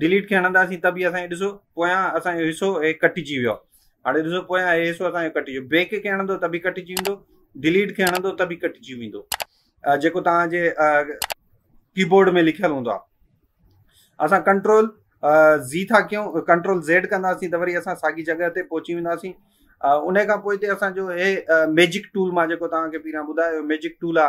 Delete کي هڻنداسين ته به اسان کي ڏسو پويان اسان جو حصو هي ڪٽجي ويو هاڻي ڏسو پويان هي حصو اسان جو ڪٽجي ويو بيڪ کي هڻندو ته به ڪٽجي ويندو ڊيليٽ کي هڻندو ته به ڪٽجي ويندو جيڪو تان جي ڪيبورڊ ۾ لکيل هوندو آ اسان ڪنٽرول زي ٿا ڪيون ڪنٽرول زيڊ ڪنداسين ته وري اسان ساڳي جڳهه تي پهچي وينداسين ان کان پوء هتي اسان جو هي ميجڪ ٽول مان جيڪو تان کي پيران ٻڌايو ميجڪ ٽول آ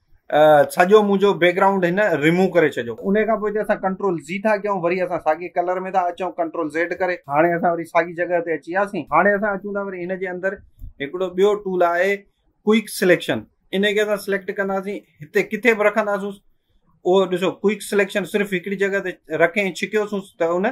سڄو منهنجو بيڪ گرائونڊ هن ريموو ڪري ڇڏيو ان کان پوء اسان ڪنٽرول زي ٿا ڪيون وري اسان ساڳي ڪلر ۾ ٿا اچون ڪنٽرول زيڊ ڪري هاڻي اسان وري ساڳي جڳهه تي اچي وياسين هاڻي اسان اچون ٿا وري هن جي اندر هڪڙو ٻيو ٽول آهي ڪوئڪ سليڪشن ان کي اسان سليڪٽ ڪنداسين هتي ڪٿي به رکنداسون اهو ڏسو ڪوئڪ سليڪشن صرف هڪڙي جڳهه تي رکي ڇڪيوسون ته ان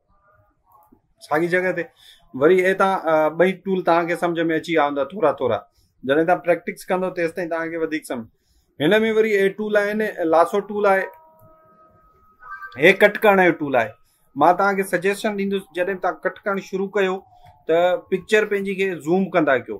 ساڳي جڳهه تي وري اي تان ٻئي ٽول تان کي سمجھ ۾ اچي آوندا ٿورا ٿورا جڏهن تان پريڪٽس ڪندو تيس تائين تان کي وڌيڪ سمجھ هن ۾ وري اي ٽول آهي نه لاسو ٽول آهي هي ڪٽ ڪرڻ جو ٽول آهي مان تان کي سجيشن ڏيندس جڏهن تان ڪٽ ڪرڻ شروع ڪيو ته پڪچر پنهنجي کي زوم ڪندا ڪيو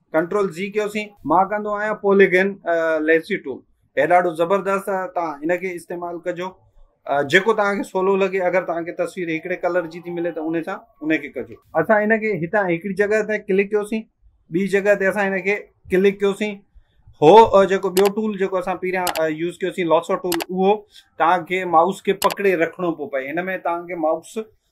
ڪنٽرول زي ڪيوسين. مان ڪندو آهيان پوليگن ليسي ٽول هي ڏاڍو زبردست توهان ان کي استعمال ڪجو جيڪو توهان کي سولو لڳي اگر توهان کي تصوير هڪڙي ڪلر جي ٿي ملي ته ان سان ان کي ڪجو اسان ان کي هتان هڪڙي جڳهه تي ڪلڪ ڪيوسين ٻي جڳهه تي اسان ان کي ڪلڪ ڪيوسين هو جيڪو ٻيو ٽول جيڪو اسان پهريان يوز ڪيوسين لاسو ٽول اهو توهان کي مائوس کي پڪڙي رکڻو پيو پئي هن ۾ توهان کي مائوس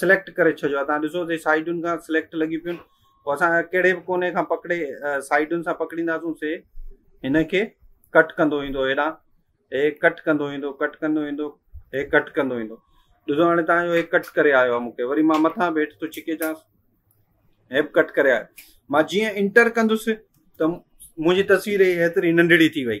سليڪٽ ڪري ڇڏيو آهي تان ڏسو تي سائيڊن کان سليڪٽ لڳي پيون پوء اسان ڪهڙي به ڪوني کان پڪڙي سائيڊن سان پڪڙينداسون سي هن کي ڪٽ ڪندو ايندو هيڏان هي ڪٽ ڪندو ايندو ڪٽ ڪندو ايندو هي ڪٽ ڪندو ايندو ڏسو هاڻي تان جو هي ڪٽ ڪري آيو آهي مونکي وري مان مٿان به هيٺ ٿو ڇڪي چانس هي به ڪٽ ڪري آيو مان جيئن انٽر ڪندس ته منهنجي تصوير هيتري ننڍڙي ٿي وئي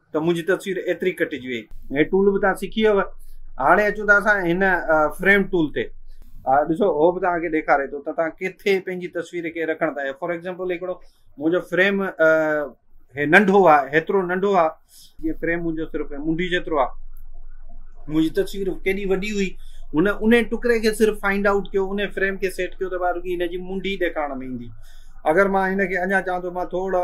ته منهنجي تصوير ايتري ڪٽجي وئي. هي ٽول به توهان سکي ويئو. هاڻي اچون ٿا اسان هن فريم ٽول تي. ها ڏسو هو به توهان کي ڏيکاري ٿو ته توهان ڪٿي پنهنجي تصوير کي رکڻ ٿا. فار ايگزامپل هڪڙو منهنجو فريم هي ننڍو آ هيترو ننڍو آ جي فريم منهنجو صرف منڊي جيترو آ منهنجي تصوير ڪيڏي وڏي هئي هن ان ٽڪري کي صرف فائنڊ آؤٽ ڪيو ان فريم کي سيٽ ڪيو ته ٻار رڳي هن جي منڊي ڏيکارڻ ۾ ايندي اگر مان هن کي اڃا چاهان ٿو مان ٿورڙا